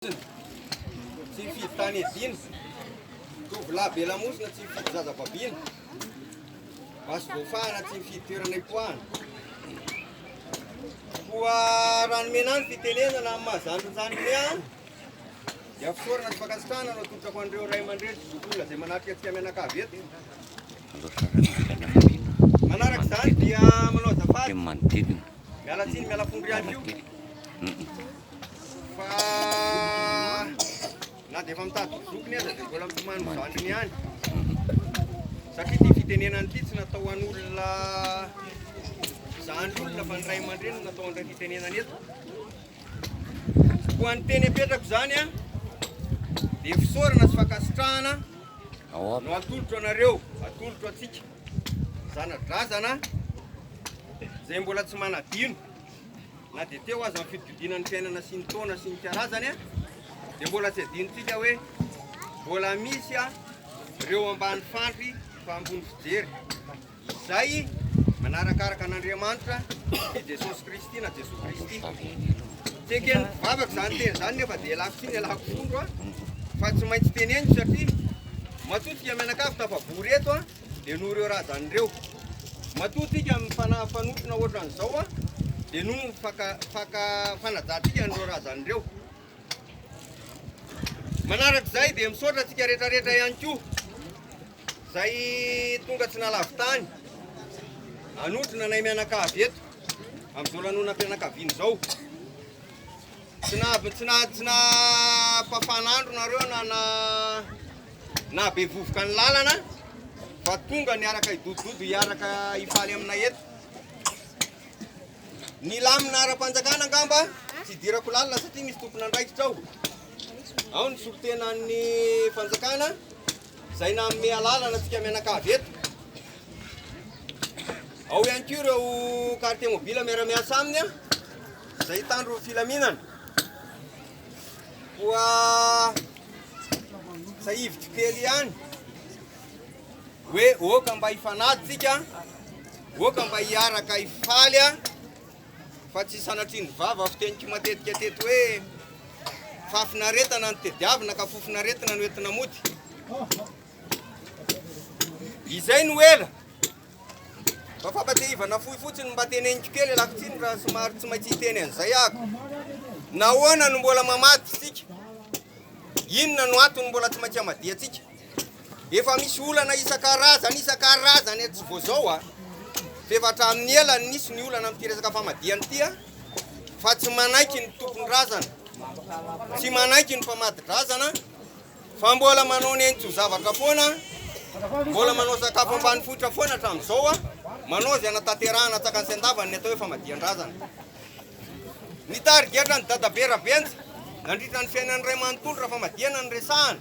Tsy mifidy tany edina, tovolahy be lamosina tsy mifidy zaza babiana, maso voafahana tsy mifidy toerana ipoahana. Koa raha nomena ny fitenenana amin'ny mahazany ny zanany an, dia fisaorana sy fankasitrahana no atolotrako an'ireo ray aman-dreny sy zokiolona izay manatrika antsika mianakavy eto. Manaraka izany dia manao azafady, miala tsiny, miala fondro ihany koa. Fa na dia efa mitady ho zokiny aza dia mbola mitomany ho zandriny ihany. Satria ity fitenenana ity tsy natao ho an'olona zandry olona fa ny ray aman-dreny no natao an'ireo fitenenana eto. Koa ny teny apetrako izany a dia fisaorana sy fankasitrahana no atolotro anareo, atolotro antsika zanadrazana izay mbola tsy manadino. Na dia teo aza ny fidikodinan'ny fiainana sy ny taona sy ny karazany dia mbola tsy adinontsika hoe mbola misy ireo ambany fandry fa ambony fijery izay manarakaraka an'Andriamanitra i Jesosy Kristy na Jesoa Kristy. Tsy eken'ny mpivavaka izany teny izany nefa dia elako sy ny elako fondro fa tsy maintsy teneniko satria matoa tsika mianakavy tafabory eto Dia noho ireo razany ireo. Matoa tsika amin'ny fanahy fanotrona ohatran'izao, dia noho ny faka, faka, fanajantsika an'ireo razany ireo. Manarak'izay dia misaotra antsika rehetrarehetra ihany koa, izay tonga tsy nalavitany, anotrona anay mianakavy eto, amin'izao lanonam-pianakaviana izao. Tsy na, tsy na, tsy na, pafan'andro nareo na na Naha be vovoka ny lalana fa tonga niaraka hidodododo hiaraka hifaly aminay eto. Ny lamina ara-panjakana angamba tsy idirako lalina satria misy tompon'andraikitra ao. Ao ny solontenan'ny fanjakana izay nanome alalana antsika mianakavy eto. Ao ihany koa ireo carte mobile miara-miasa aminy izay hitandro filaminana. Koa tsahiviko kely ihany hoe oka mba hifanady tsika oka mba hiaraka hifaly a fa tsy sanatrian'ny vava fiteniko matetika teto hoe fafinaretana ny tediavina ka fofinaretina no entina mody izay no ela Mba fampatsiahivana fohy fotsiny mba teneniko kely alakotsiny raha somary tsy maintsy hiteny an'izay ako. Nahoana no mbola mamady isika? Inona no antony mbola tsy maintsy amadiantsika? Efa misy olana isan-karazany isan-karazany tsy vao zao a. Ah. F'efa hatramin'ny ela no nisy ny olana amin'ity resaka famadiana ity a. Ah. Fa tsy manaiky ny tompon-drazana. Tsy manaiky ny famadidrazana. Fa mbola manao nenitso zavatra foana, mbola manao sakafo ambanivohitra foana hatramin'izao, manao izay hanatanterahana antsakany sy andavany ny atao hoe famadihan-drazana. Ny tarigetra an'i Dadabe Rabenja nandritra ny fiainany iray manontolo raha famadihana no resahana.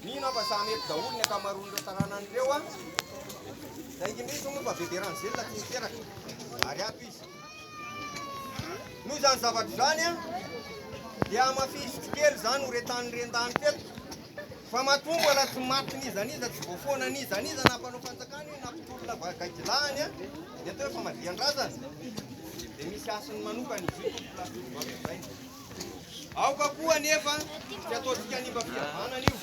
Mino aho fa samy eto daholo ny ankamaroan'ireo taranany ireo an! Raha indrindra moa fa Bebe Rangelina tsy niteraka ary ato izy. Noho izany zavatra izany an, dia hamafisiko kely izany horetan'ny ren-dany teto fa matoa mbola tsy maty n'iza n'iza tsy voafoana n'iza n'iza na mpanao fanjakana io na mpitolona va- gaidilahany an, ny atao hoe famadihan-drazana dia misy hasiny manokana izy io tompoko lahatsoratra izay. Aoka koa anefa tsy ataontsika hanimba fihavanana io.